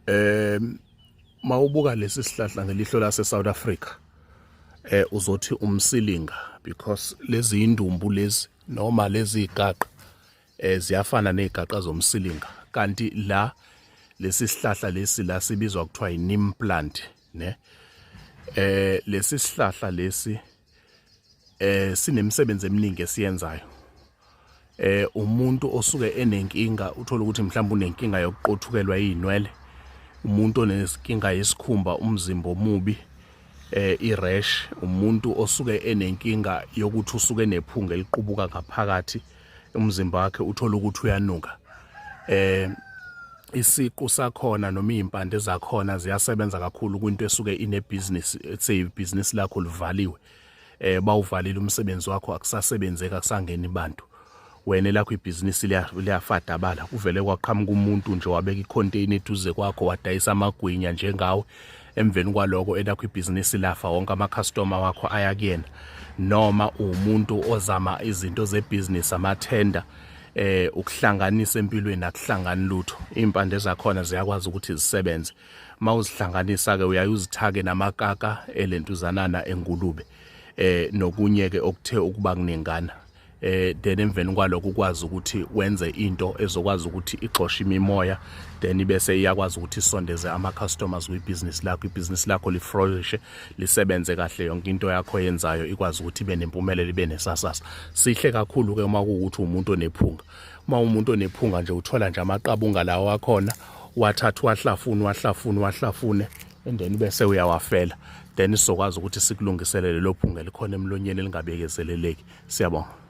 eh mawubuka lesi sihlahla ngelihlo lase South Africa eh uzothi umsilinga because lezi indumbu lezi noma lezi igaqa eh ziyafana nezigaqa zomsilinga kanti la lesi sihlahla lesi la sibizwa kuthiwa inim plant ne eh lesi sihlahla lesi eh sinemisebenzi eminingi esiyenzayo eh umuntu osuke enenkinga uthola ukuthi mhlawumbe unenkinga yokuqothukelwa izinwele umuntu onesinkinga yesikhumba umzimba omubi eh irash umuntu osuke enenkinga yokuthi usuke nephunga eliqubuka ngaphakathi umzimba wakhe uthola ukuthi uyanuka eh isiqu sakhona noma izimpande zakhona ziyasebenza kakhulu kwinto esuke ine business ethe business lakho livaliwe eh bawuvalile umsebenzi wakho akusasebenzeki akusangeni abantu wena lakho ibhizinisi liyafadabala kuvele kwaqhamuka umuntu nje wabeka icontainer eduze kwakho wadayisa amagwinya njengawe emveni kwaloko elakho ibhizinisi lafa wonke amakhastoma wakho aya kuyena noma uwumuntu ozama izinto zebhizinisi amathenda eh ukuhlanganisa empilweni akuhlangani lutho impande zakhona ziyakwazi ukuthi zisebenze mawuzihlanganisa ke uyayuzithake namakaka elentuzanana engulube eh nokunye ke okuthe ukuba kunengana eh then emveni kwaloko ukwazi ukuthi wenze into ezokwazi ukuthi ixoshe imimoya then ibese iyakwazi ukuthi isondeze ama customers kwi business lakho i business lakho li flourish lisebenze kahle yonke into yakho yenzayo ikwazi ukuthi ibe nempumelelo ibe nesasasa sihle kakhulu ke uma ukuthi umuntu onephunga uma umuntu onephunga nje uthola nje amaqabunga lawo akhona wathatha wahlafuna wahlafuna wahlafune and then bese uyawafela then sizokwazi ukuthi sikulungiselele lophunga elikhona emlonyeni elingabekezeleleki siyabonga